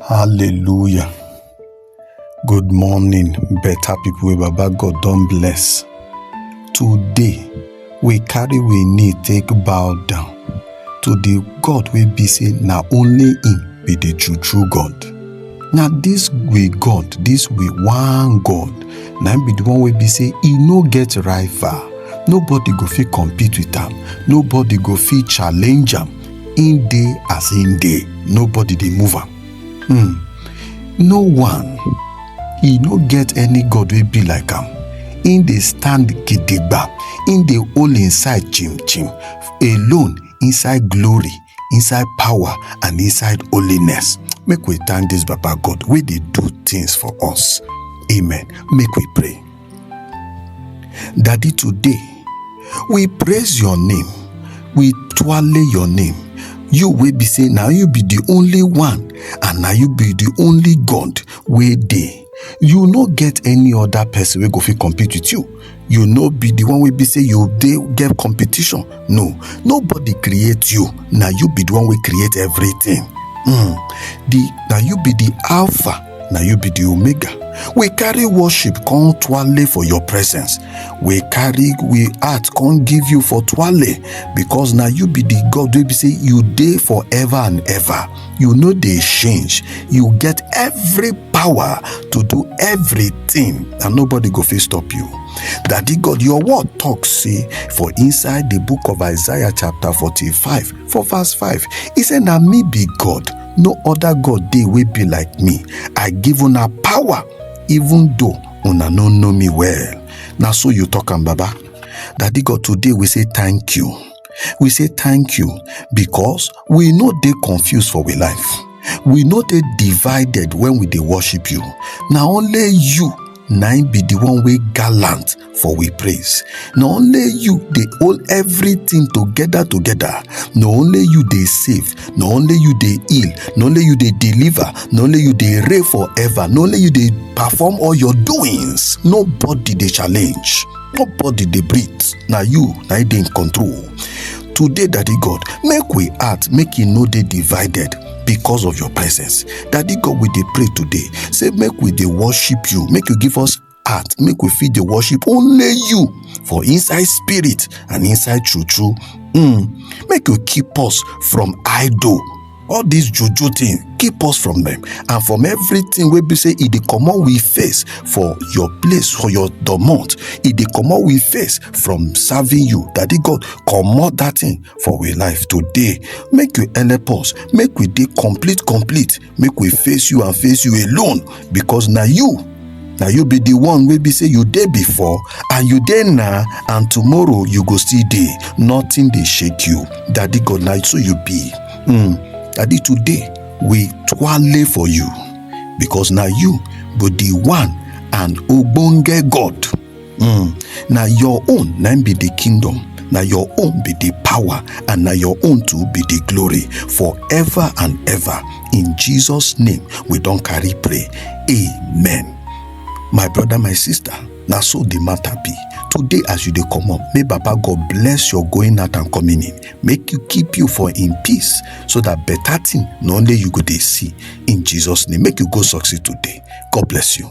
Hallelujah. Good morning, better people wey Baba God don bless. Today, we carry we knee take bow down to the God wey be say na only him be the true true God. Na this we God, this we one God, na him be the one wey be say e no get rival. Nobody go fit compete with am. Nobody go fit challenge am. Im dey as im dey, nobody dey move am. Hmm. No one, e no get any God wey be like am. Im dey stand gidigba, im dey hold im side chim chim, alone inside glory, inside power and inside holiness. Make we thank dis Baba God wey dey do things for us. Amen. Make we pray. Daddy, today we praise your name, we twale your name. You will be saying, now you be the only one, and now you be the only God where they. You no get any other person we go fit compete with you. You no be the one we be say you dey get competition. No, nobody create you. Now you be the one we create everything. Mm. The now you be the alpha na you be the omega we carry worship come twale for your presence we carry we heart come give you for twale because na you be the god wey be say you dey forever and ever you no dey change you get every power to do everything and nobody go fit stop you daddy god your word talk say for inside the book of isaiah chapter 45 for verse 5 e say na me be god no other god dey wey be like me i give una power even though una no know me well na so you talk am baba daddy god today we say thank you we say thank you because we no dey confused for we life we no dey divided when we dey worship you na only you na im be the one wey gallant for we praise na only you dey hold everything together together na only you dey save na only you dey heal na only you dey deliver na only you dey reign forever na only you dey perform all your doings nobody dey challenge nobody dey breathe na you na you dey in control today daddy god make we heart make e no dey divided because of your presence daddy god we dey pray today say make we dey worship you make you give us heart make we fit dey worship only you for inside spirit and inside true true mm. make you keep us from idol all this juju thing keep us from them and from everything wey be say e dey comot we face for your place for your domot e dey comot we face from serving you daddy god comot that thing for we life today make you help us make we dey complete complete make we face you and face you alone because na you na you be the one wey be say you dey before and you dey now and tomorrow you go still dey nothing dey shake you daddy god na so you be mm. daddy today we twale for you because na you be the one and ogbonge god Mm, na your own na be the kingdom na your own be the power and na your own too be the glory forever and ever in jesus name we don carry pray amen my brother my sister na so the matter be today as you dey comot may baba god bless your going out and coming in make you keep you for in peace so that better thing na only you go dey see in jesus name make you go succeed today god bless you